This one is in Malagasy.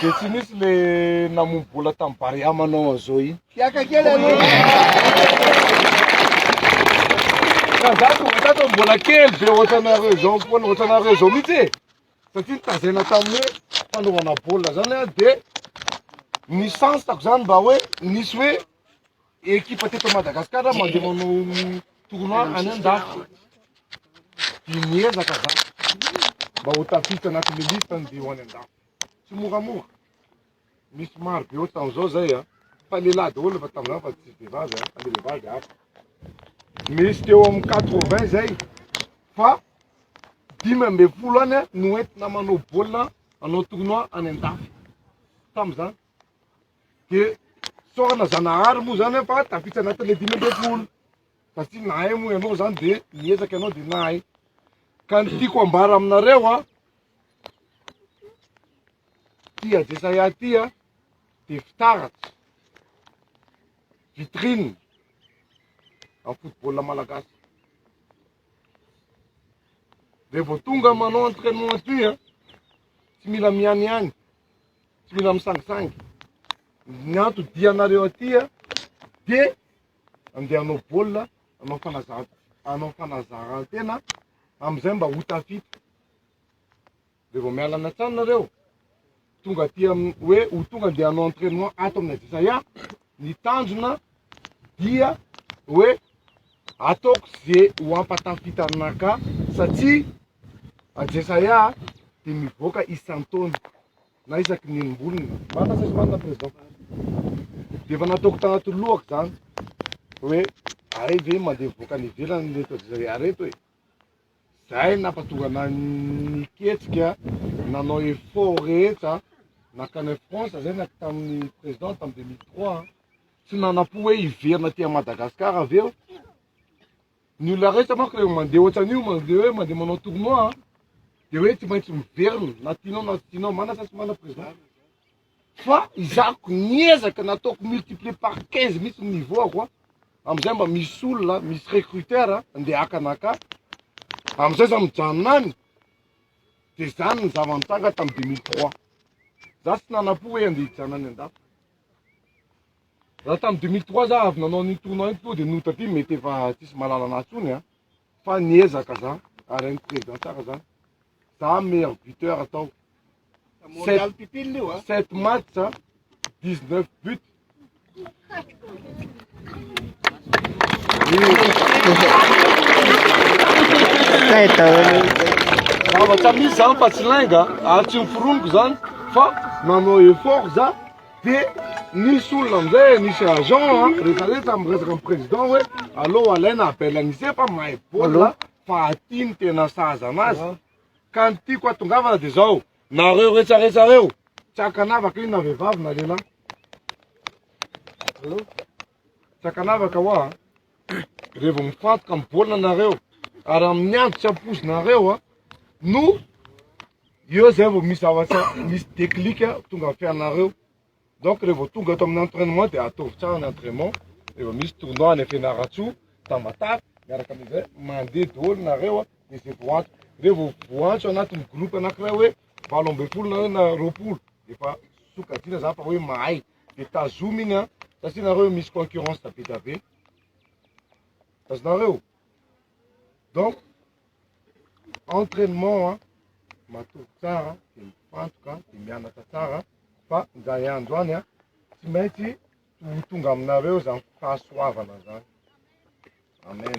Dia tsy nisy le namono bola tamin'ny Barea manao an'izao iny. Hiaka kely aloha. Ka za tonga tato mbola kely be ohatranareo izao foana, ohatranareo izao mihitsy e. Satria nitazena tamin'ny hoe fanaovana baolina zany aho dia ny chance-ko zany mba hoe nisy hoe ekipa teto Madagascar mandeha manao tournoi any an-dafy. Dia niezaka za mba ho tafiditra anatin'ny liste ny dia ho any an-dafy. tsy moramora misy maro be ohatran izao zay a fa lehilahy daholo efa tamin'izany fa tsisy vehivavy a fa le vehivavy hafa misy teo amin'ny quatre vingt zay fa dimy amby folo any a no entina manao baolina anao tournoi any an-dafy tamin'izany de sorana zanahary moa zany fa tafitsy anatin'le dimy amby folo satria nahay moa ianao zany de niezaka ianao de nahay ka ny tiako ambara aminareo a Ity Adesaya ity a, dia fitaratra, vitrine amin'ny football malagasy. Dia vao tonga manao entraînement atoy a, tsy mila mihaniany, tsy mila misangisangy. Ny antodianareo aty a, dia andeha hanao baolina, hanao fanazaran-tena, amin'izay mba ho tafita. Dia vao miala any an-trano nareo, tonga aty amin'ny hoe ho tonga dia hanao entraînement ato amin'ny Ajisaya, ny tanjona dia hoe ataoko ze ho hampatafitanà ka satsia Ajisaya dia mivoaka isan-taona na isaky ny enim-bolona. Marina sa tsy marina Président? Dia efa nataoko tanaty lohako izany hoe hay ve mandeha mivoaka any ivelany ireto Ajisaya ireto e? Zay no nampatonga anah niketsika nanao effort rehetra nankany France zay na tamin'ny président tamin'ny 2003 an, tsy nanampo hoe hiverina aty Madagascar avy eo, ny olona rehetra manko rehefa mandeha ohatran'io mandeha hoe mandeha manao tournoi an, dia hoe tsy maintsy miverina na tianao na tsy tianao, mana sa tsy mana président? fa izako niezaka nataoko multiplier par 15 mihitsy ny niveau ako amizay mba misy olona misy recruteur andeha haka anaka amizay za mijanona any de zany ny zava nitranga tam 2003 za tsy nanapo hoe andeha hijanona any andafy raha tam 2003 za avy nanao ny tournoi iny tonga de nota ty mety efa tsisy malala anahy tsony a fa niezaka za ary any président tsara zany za meilleur buteur atao Sept matchs, 19 buts. Zavatra misy zany fa tsy lainga ary tsy miforoniko zany fa manao effort za de nisy olona amizay nisy agent a rehefa rehefa miresaka amin'ny président hoe aleo alaina appel an'ise fa mahay baolina fa aty ny tena sahaza anazy Ka ny tiako hatongavana dia izao, nareo rehetrarehetra reo, tsy ankanavaka io na vehivavy na lehilahy. Allo? Tsy ankanavaka hoa, rehefa vao mifantoka amin'ny baolina nareo, ary amin'ny andro tsy ampoizinareo a, no eo izay vao misy zavatra, misy déclic tonga amin'ny fiainanareo. Donc rehefa vao tonga ato amin'ny entrainement dia ataovy tsara ny entrainement, rehefa misy tournoi any Fianarantsoa, Tamatave, miaraka amin'izay mandeha daholo nareo dia izay vao antso, rehefa vao voantso anatin'ny groupe anankiray hoe valo ambin'ny folo nareo na roapolo dia efa sokajiana zany fa hoe mahay dia tazomy iny an, satria nareo misy concurrence be dia be, tazonareo? Donc. entrainement an, matory tsara de mifantoka de mianatra tsara fa zany andro any an tsy maintsy ho tonga aminareo zany fahasoavana zany, amen.